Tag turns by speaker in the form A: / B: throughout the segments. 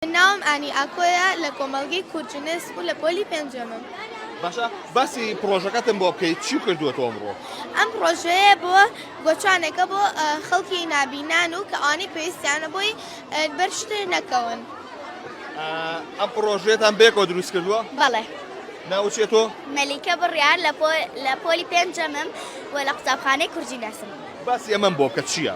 A: من ناوم ئانی ئاکۆیە لە کۆمەڵگەی کورجنس و لە پۆلی پێنجەمم. باشە
B: باسی پرۆژەکەتم بۆ بکەیت چی کردووە تۆمڕۆ ئەم پرۆژەیە
A: بۆ گۆچانێکە بۆ خەڵکی نابینان و کە ئانی پێویستیانە بۆی بەرشتر نەکەون
B: ئەم پرۆژێتان بێکەوە دروست کردووە بەڵێ
C: ناوچێت تۆ
B: مەلیکە بڕیار
C: لە پۆلی پێنجەمم و لە قوتابخانەی کوردی ناسم باسی ئەمەم بۆ کە
B: چییە؟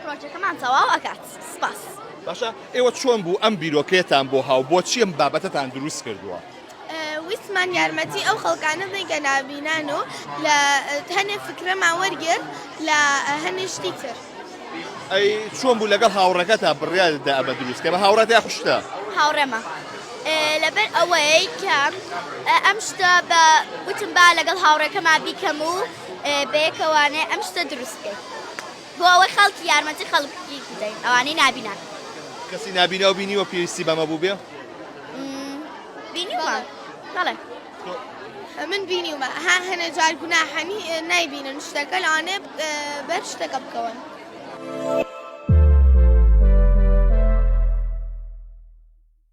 A: پرۆژەکەمان تەواو
C: ئەکات سپاس. باشە ئێوە
B: چۆن بوو ئەم بیرۆکەیەتان بۆ هاو بۆچی ئەم بابەتەتان دروست کردووە؟ ویستمان
A: یارمەتی ئەو خەڵکانە بین کە نابینان و لە هەنێ فکرەمان وەرگرت لە هەنێ شتی تر ئەی
B: چۆن بوو لەگەڵ هاوڕەکە تا بڕیاددا ئەمە دروستکە بە هاوڕات یا خوشتە هاوڕێمە
C: لەبەر ئەوەی کە ئەم شتە بە وتم با لەگەڵ هاوڕێکەما بیکەم و بەیەکەوانێ ئەم شتە دروستکەیت بۆ ئەوەی خەڵکی یارمەتی خەڵکی بدەین ئەوانەی نابینا. کەسی نابیناو
B: بینیوە پێویستی بەمە بووبێ؟ بینیومە
C: بەڵێ.
A: من بینیومە ها هەنێ جار گوناحەنی نایبینن شتەکە لەوانێ بەر شتەکە بکەون.